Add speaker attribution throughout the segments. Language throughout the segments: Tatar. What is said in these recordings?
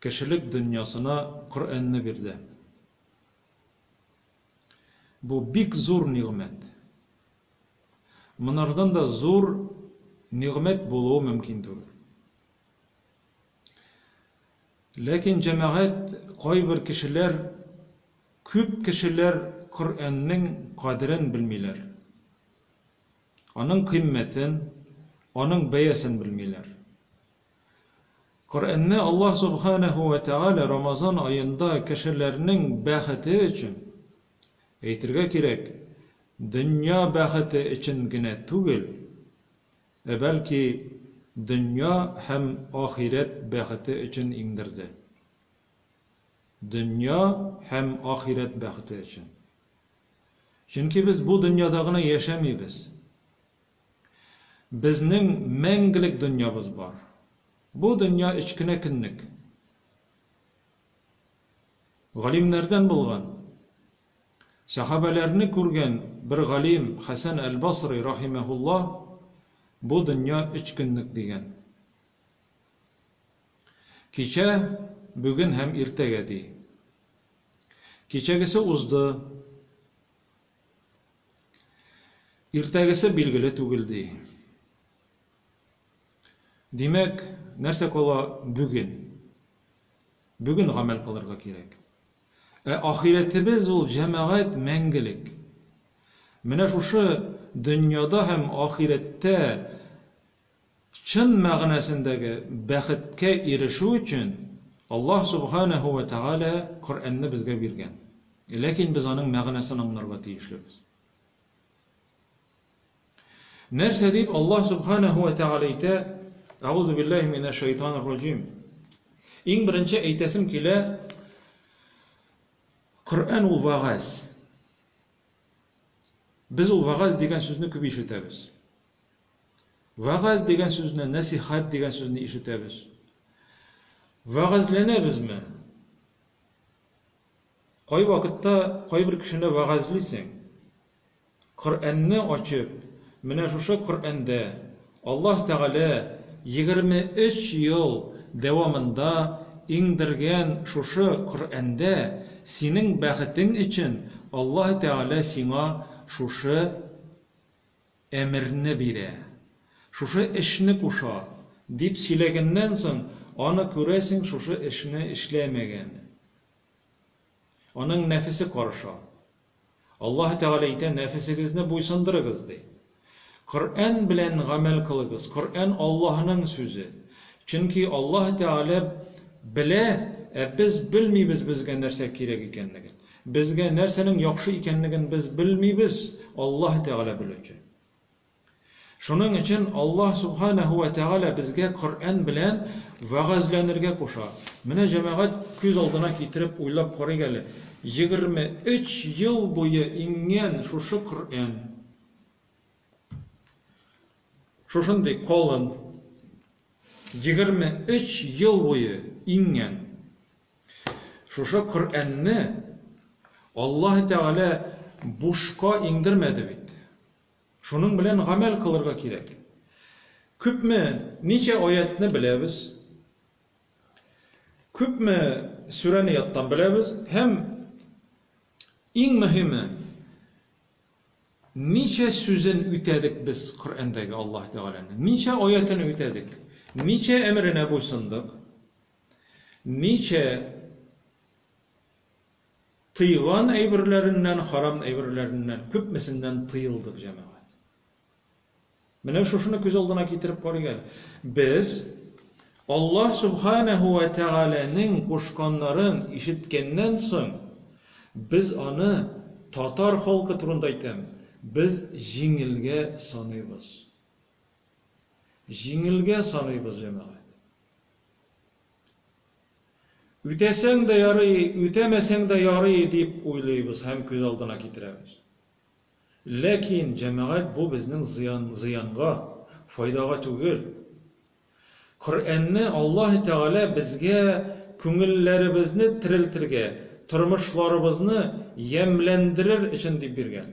Speaker 1: Кешелек дөньясына Коръәнне бирде. Бу бик зур нигъмәт. Монардан да зур нигъмәт булуы мөмкин түгел. Ләкин, җәмәгать, кайбер кешеләр, күп кешеләр Коръәннең кадерен белмиләр. Аның кыйммәтен, аның бәясен белмиләр. Коръәнне Аллаһ Субханәһү вә Тәгалә Рамазан аенда кешеләрнең бәхете өчен, әйтергә кирәк, дөнья бәхете өчен генә түгел, ә бәлки дөнья һәм ахирәт бәхете өчен иңдерде. Дөнья һәм ахирәт бәхете өчен. Чөнки без бу дөньяда гына яшәмибез. Безнең мәңгелек дөньябыз бар. Бу дөнья өч кенә көнлек. Галимнәрдән булган, сәхабәләрне күргән бер галим Хәсән әл-Басри рахимәһулла бу дөнья өч көнлек дигән. Кичә, бүген һәм иртәгә ди. Кичәгесе узды. Иртәгесе билгеле түгел, ди. Димәк, нәрсә кала бүген? Бүген гамәл кылырга кирәк. Ә ахирәтебез ул җәмәгать мәңгелек. Менә шушы дөньяда һәм ахирәттә Чын мәгънәсендәге бәхеткә ирешү өчен Аллаһ Сүбхәнәһү вә Тәгалә Коръәнне безгә биргән. Ләкин без аның мәгънәсен аңларга тиешлебез. Нәрсә дип Аллаһ Сүбхәнәһү вә Тәгалә әйтә? Әгузу биллаһи минәш шәйтанир раҗим. Иң беренче әйтәсем килә, Коръән ул вәгазь. Без ул вәгазь дигән сүзне күп ишетәбез. Вәгазь дигән сүзне, нәсихәт дигән сүзне ишетәбез. Вәгазьләнәбезме? Кай вакытта кайбер кешене вәгазьлисең? Коръәнне ачып, менә шушы Коръәндә Аллаһ Тәгалә 23 ел дәвамында иңдергән шушы Коръәндә синең бәхетең өчен Аллаһ Тәгалә сиңа шушы Әмерне бирә. Шушы эшне куша, дип сөйләгәннән соң, аны, күрәсең, шушы эшне эшләмәгән. Аның нәфесе карыша. Аллаһы Тәгалә әйтә, Нәфесегезне буйсындырыгыз, ди. Коръән белән гамәл кылыгыз. Коръән Аллаһының сүзе. Чөнки Аллаһы Тәгалә белә, ә без белмибез безгә нәрсә кирәк икәнлеген. Безгә нәрсәнең яхшы икәнлеген без белмибез, Аллаһ Тәгалә белүче. Шуның өчен Аллаһ Сүбхәнәһү вә Тәгалә безгә Коръән белән вәгазьләнергә куша. Менә җәмәгать күз алдына китереп уйлап карыйк әле, егерме өч ел буе иңгән шушы Коръән, шушындый калын, егерме өч ел буе иңгән, Шушы Коръәнне Аллаһы Тәгалә бушка иңдермәде бит. Шуның белән гамәл кылырга кирәк. Күпме, ничә аятьне беләбез, күпме сүрәне яттан беләбез һәм иң мөһиме, ничә сүзен үтәдек без Коръәндәге Аллаһы Тәгаләнең, ничә аятен үтәдек, ничә әмеренә буйсындык, Ничә тыйган әйберләреннән, харам әйберләреннән, күпмесеннән тыелдык, җәмәгать? Менә шушыны күз алдына китереп карыйк әле. Без Аллаһ Субханәһу вә Тәгаләнең кушканнарын ишеткәннән соң, без аны татар халкы турында әйтәм, без җиңелгә саныйбыз. Җиңелгә саныйбыз, җәмәгать. Үтәсәң дә ярый, үтәмәсәң дә ярый дип уйлыйбыз һәм күз алдына китерәбез. Ләкин, җәмәгать, бу безнең зыян, зыянга, файдага түгел. Коръәнне Аллаһы Тәгалә безгә күңелләребезне терелтергә, тормышларыбызны ямьләндерер өчен дип биргән.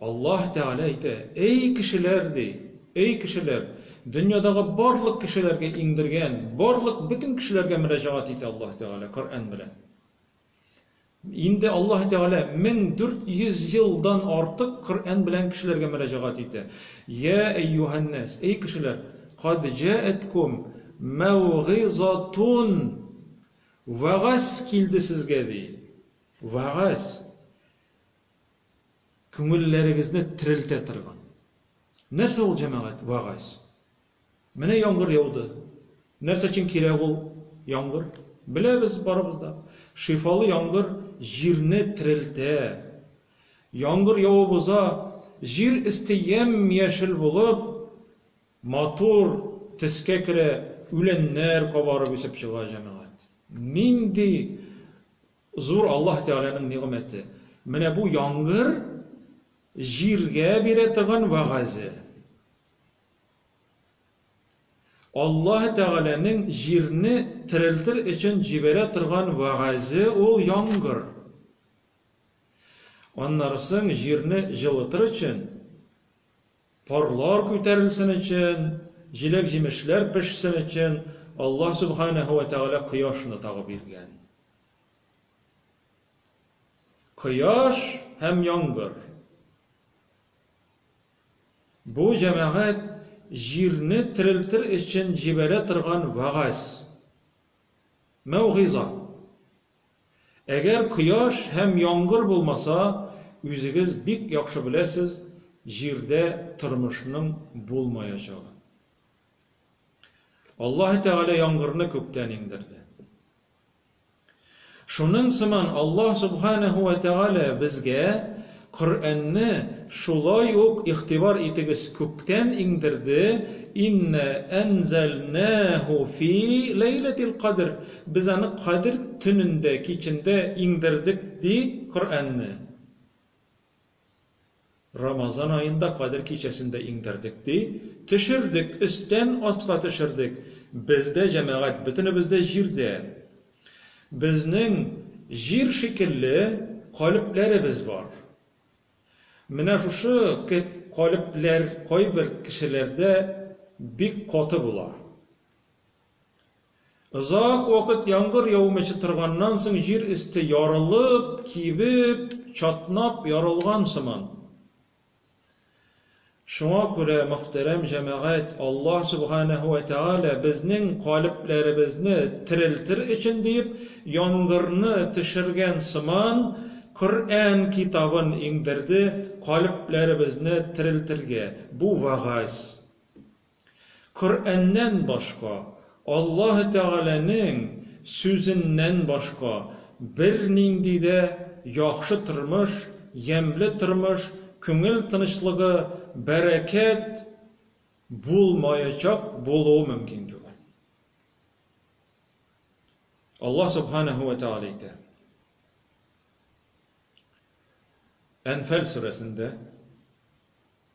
Speaker 1: Аллаһ Тәгалә әйтә, Әй кешеләр! ди. Әй кешеләр! Дөньядагы барлык кешеләргә иңдергән, барлык бөтен кешеләргә мөрәҗәгать итә Аллаһ Тәгалә Коръән белән. Инде Аллаһ Тәгалә 1400 елдан артык Коръән белән кешеләргә мөрәҗәгать итә. Йә әйюһәннәс, әй кешеләр! Кад җәәткум мәүгыйзатун! Вәгазь килде сезгә, ди. Вәгазь! күңелләрегезне терелтә торган. Нәрсә ул, җәмәгать, вәгазь? Менә яңгыр яуды. Нәрсә өчен кирәк ул яңгыр? Беләбез барыбыз да. Шифалы яңгыр җирне терелтә. Яңгыр явып уза, җир өсте ямь-яшел булып, матур төскә керә, үләннәр кабарып үсеп чыга, җәмәгать. Нинди Зур Аллаһ Тәгаләнең нигъмәте. Менә бу яңгыр җиргә бирә торган вәгазе. Аллаһ Тәгаләнең җирне терелтер өчен җибәрә торган вәгазе ул яңгыр. Аннары соң җирне җылытыр өчен Парлар күтәрелсен өчен, җиләк-җимешләр пешсен өчен Аллаһ Сүбхәнәһү вә Тәгалә кояшны тагы биргән. Кояш һәм яңгыр. Бу җәмәгать җирне терелтер өчен җибәрә торган вәгазь, мәүгыйза. Әгәр кояш һәм яңгыр булмаса, үзегез бик яхшы беләсез, җирдә тормышның булмаячагын. Аллаһы Тәгалә яңгырны күктән иңдерде. Шуның сыман Аллаһ Субханәһү вә Тәгалә безгә Коръәнне шулай ук игътибар итегез күктән иңдерде, Иннә әнзәлнәһү фи ләйләтил кадр, Без аны Кадер төнендә, кичендә, иңдердек, ди, Коръәнне. Рамазан аенда Кадер кичәсендә иңдердек, ди, төшердек, өстән астка төшердек, Без дә, җәмәгать, бөтенебез дә җирдә, Безнең җир шикелле калебләребез бар. Менә шушы калебләр кайбер кешеләрдә бик каты була. Озак вакыт яңгыр яумыйча торганнан соң җир өсте ярылып, кибеп, чатнап ярылган сыман. Шуңа күрә, мөхтәрәм җәмәгать, Аллаһ Сүбхәнәһү вә Тәгалә безнең калебләребезне терелтер өчен диеп, яңгырны төшергән сыман, Коръән китабын иңдерде калебләребезне терелтергә. Бу вәгазь. Коръәннән башка, Аллаһы Тәгаләнең Сүзеннән башка бернинди дә яхшы тормыш, ямьле тормыш, күңел тынычлыгы, бәрәкәт булмаячак, булуы мөмкин түгел. Аллаһ Субханәһү вә Тәгалә әйтә, Әнфәл сүрәсендә,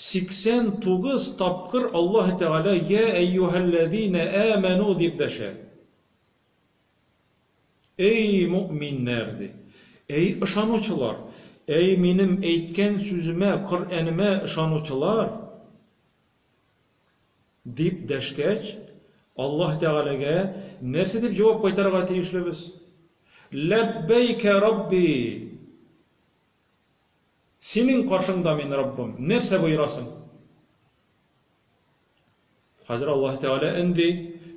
Speaker 1: 89 тапкыр Аллаһы Тәгалә Йә әйюһәлләзинә әмәну дип дәшә. Әй мөэминнәр! ди. Әй ышанучылар! Әй минем әйткән сүземә, Коръәнемә ышанучылар! дип дәшкәч, Аллаһы Тәгаләгә нәрсә дип җавап кайтарырга тиешлебез? Ләббәйкә Рабби! Синең каршыңда мин, Раббым, нәрсә боерасың? Хәзер Аллаһы Тәгалә өнди,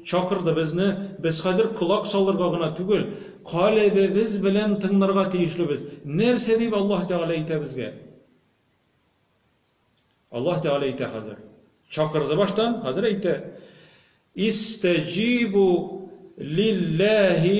Speaker 1: чакырды безне, без хәзер колак салырга гына түгел, калебебез белән тыңнарга тиешлебез. Нәрсә дип Аллаһы Тәгалә әйтә безгә? Аллаһы Тәгалә әйтә хәзер. Чакырды баштан, хәзер әйтә. Истәҗибу лилләһи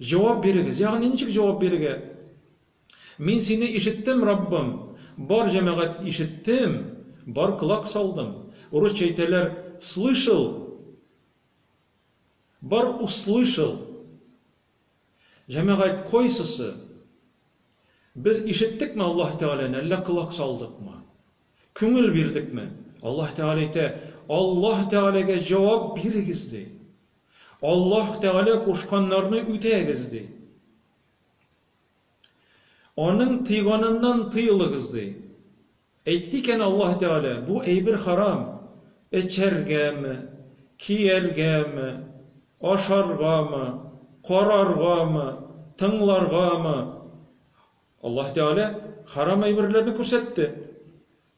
Speaker 1: Җавап бирегез! Ягъни ничек җавап бирергә? Мин сине ишеттем, Раббым, бар җәмәгать ишеттем, бар колак салдым. Урысча әйтәләр слышал, бар услышал. Җәмәгать кайсысы? Без ишеттекме Аллаһ Тәгаләне, әллә колак салдыкмы? Күңел бирдекме? Аллаһ Тәгалә әйтә, Аллаһ Тәгаләгә җавап бирегез, ди. Аллаһ Тәгалә кушканнарны үтәгез, ди. Аның тыйганыннан тыелыгыз, ди. Әйтте икән Аллаһ Тәгалә, бу әйбер харам, эчәргәме, кияргәме, ашаргамы, караргамы, тыңларгамы? Аллаһ Тәгалә харам әйберләрне күрсәтте.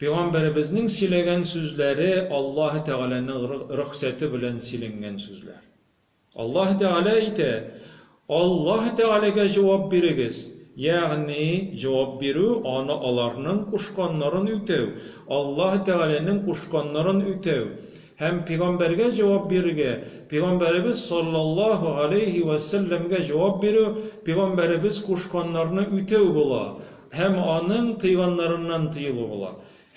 Speaker 1: Пигамбәребезнең сөйләгән сүзләре Аллаһы Тәгаләнең рөхсәте белән сөйләнгән сүзләр. Аллаһы Тәгалә әйтә, Аллаһы Тәгаләгә җавап бирегез, ягъни җавап бирү, аны аларның кушканнарын үтәү, Аллаһы Тәгаләнең кушканнарын үтәү, һәм пигамбәргә җавап бирергә, пигамбәребез саллаллаһу галәйһи вә сәлләмгә җавап бирү, пигамбәребез кушканнарны үтәү була. Һәм аның тыйганнарыннан тыелу була.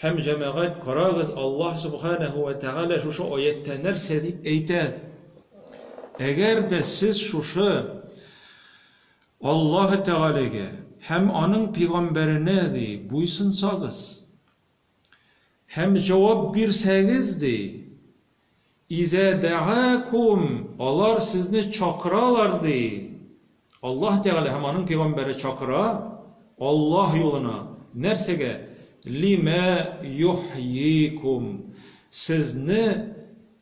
Speaker 1: Һәм, җәмәгать, карагыз, Аллаһ Сүбхәнәһү вә Тәгалә шушы аятьтә нәрсә дип әйтә, Әгәр дә сез шушы Аллаһы Тәгаләгә һәм Аның пәйгамбәренә, ди, буйсынсагыз, Һәм җавап бирсәгез, ди, Иза дәгакум, алар сезне чакыралар, ди, Аллаһ Тәгалә һәм Аның пәйгамбәре чакыра, Аллаһ юлына, нәрсәгә, лимә йохйикум, сезне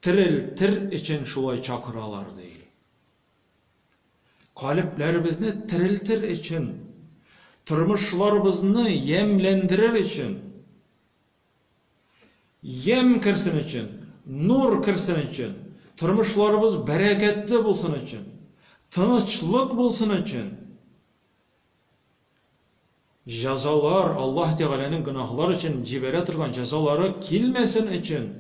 Speaker 1: терелтер өчен шулай чакыралар, ди. Калебләребезне терелтер өчен, тормышларыбызны ямьләндерер өчен, ямь керсен өчен, нур керсен өчен, тормышларыбыз бәрәкәтле булсын өчен, тынычлык булсын өчен, Җәзалар, Аллаһ Тәгаләнең гөнаһлар өчен җибәрә торган җәзалары килмәсен өчен.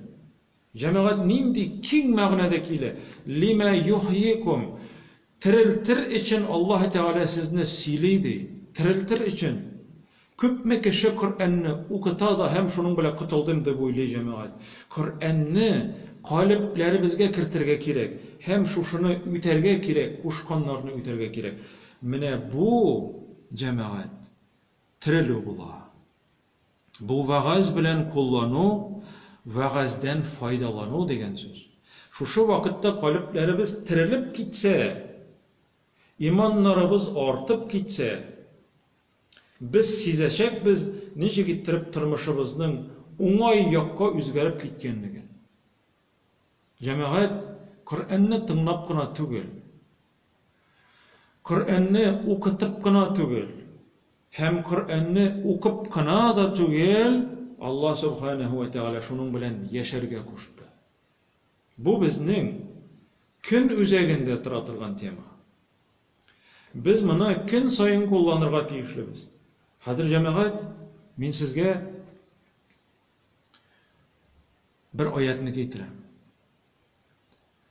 Speaker 1: Җәмәгать, нинди киң мәгънәдә килә! Лимә йохйикум, Терелтер өчен Аллаһ Тәгалә сезне сөйли, ди. Терелтер өчен. Күпме кеше Коръәнне укыта да һәм шуның белән котылдым дип уйлый, җәмәгать. Коръәнне калебләребезгә кертергә кирәк һәм шушыны үтәргә кирәк, кушканнарны үтәргә кирәк. Менә бу, җәмәгать, терелү була. Бу вәгазь белән куллану, вәгазьдән файдалану дигән сүз. Шушы вакытта калебләребез терелеп китсә, иманнарыбыз артып китсә, без сизәчәкбез ничек иттереп тормышыбызның уңай якка үзгәреп киткәнлеген. Җәмәгать, Коръәнне тыңлап кына түгел. Коръәнне укытып кына түгел, һәм Коръәнне укып кына да түгел, Алла Субханаһу вә Тәгалә шуның белән яшәргә кушты. Бу безнең көн үзәгендә тора торган тема. Без моны көн саен кулланырга тиешлебез. Хәзер, җәмәгать, мин сезгә бер аятьне китерәм.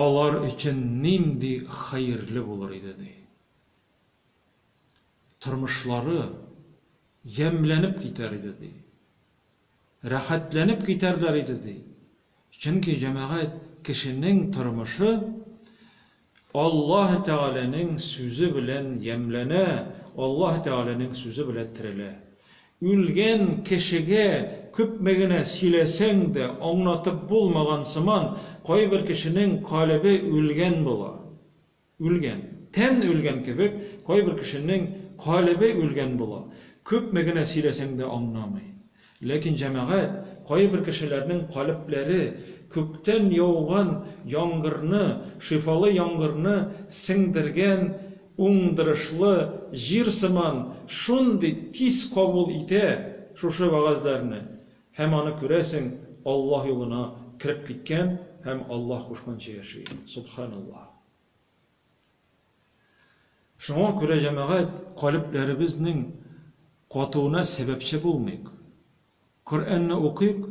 Speaker 1: Алар өчен нинди хәерле булыр иде, ди. Тормышлары ямьләнеп китәр иде, ди. Рәхәтләнеп китәрләр иде, ди. Чөнки җәмәгать кешенең тормышы Аллаһ Тәгаләнең сүзе белән ямьләнә, Аллаһ Тәгаләнең сүзе белән терелә. Үлгән кешегә күпме генә сөйләсәң дә, аңлатып булмаган сыман, кайбер кешенең калебе үлгән була. Үлгән. Тән үлгән кебек, кайбер кешенең калебе үлгән була. Күпме генә сөйләсәң дә аңламый. Ләкин җәмәгать кайбер кешеләрнең калебләре күктән яуган яңгырны, шифалы яңгырны сеңдергән уңдырышлы җир сыман шундый тиз кабул итә шушы вәгазьләрне, һәм аны күрәсең, Аллаһ юлына кереп киткән һәм Аллаһ кушканча яши. Субханаллаһ. Шуңа күрә, җәмәгать, калебләребезнең катуына сәбәпче булмыйк. Коръәнне укыйк,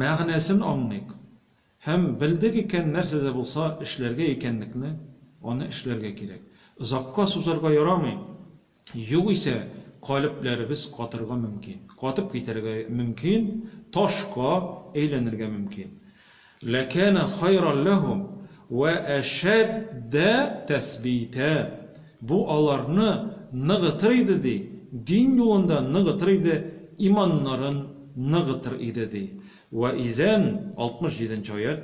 Speaker 1: мәгънәсен аңлыйк һәм белдек икән, нәрсә дә булса эшләргә икәнлекне, аны эшләргә кирәк. Озакка сузарга ярамый. Югыйсә, калебләребез катырга мөмкин, катып китәргә мөмкин, ташка әйләнергә мөмкин. Ләкәнә хайран ләһүм вә әшәддә тәсбитә. Бу аларны ныгытыр иде, ди, дин юлында ныгытыр иде, иманнарын ныгытыр иде, ди. Вә изән, 67 нче аять.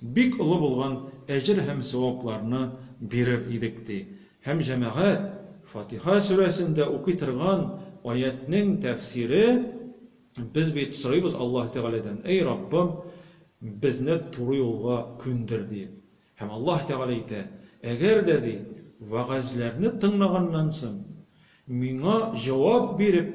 Speaker 1: Бик олы булган әҗер һәм савапларны бирер идек, ди һәм җәмәгать Фатиха сүрәсендә укый торган аятьнең тәфсире, Без бит сорыйбыз Аллаһы Тәгаләдән, Әй Раббым, безне туры юлга күндер, диеп. Һәм Аллаһы Тәгалә әйтә, Әгәр дә, ди, вәгазьләрне тыңлаганнан соң, Миңа җавап биреп,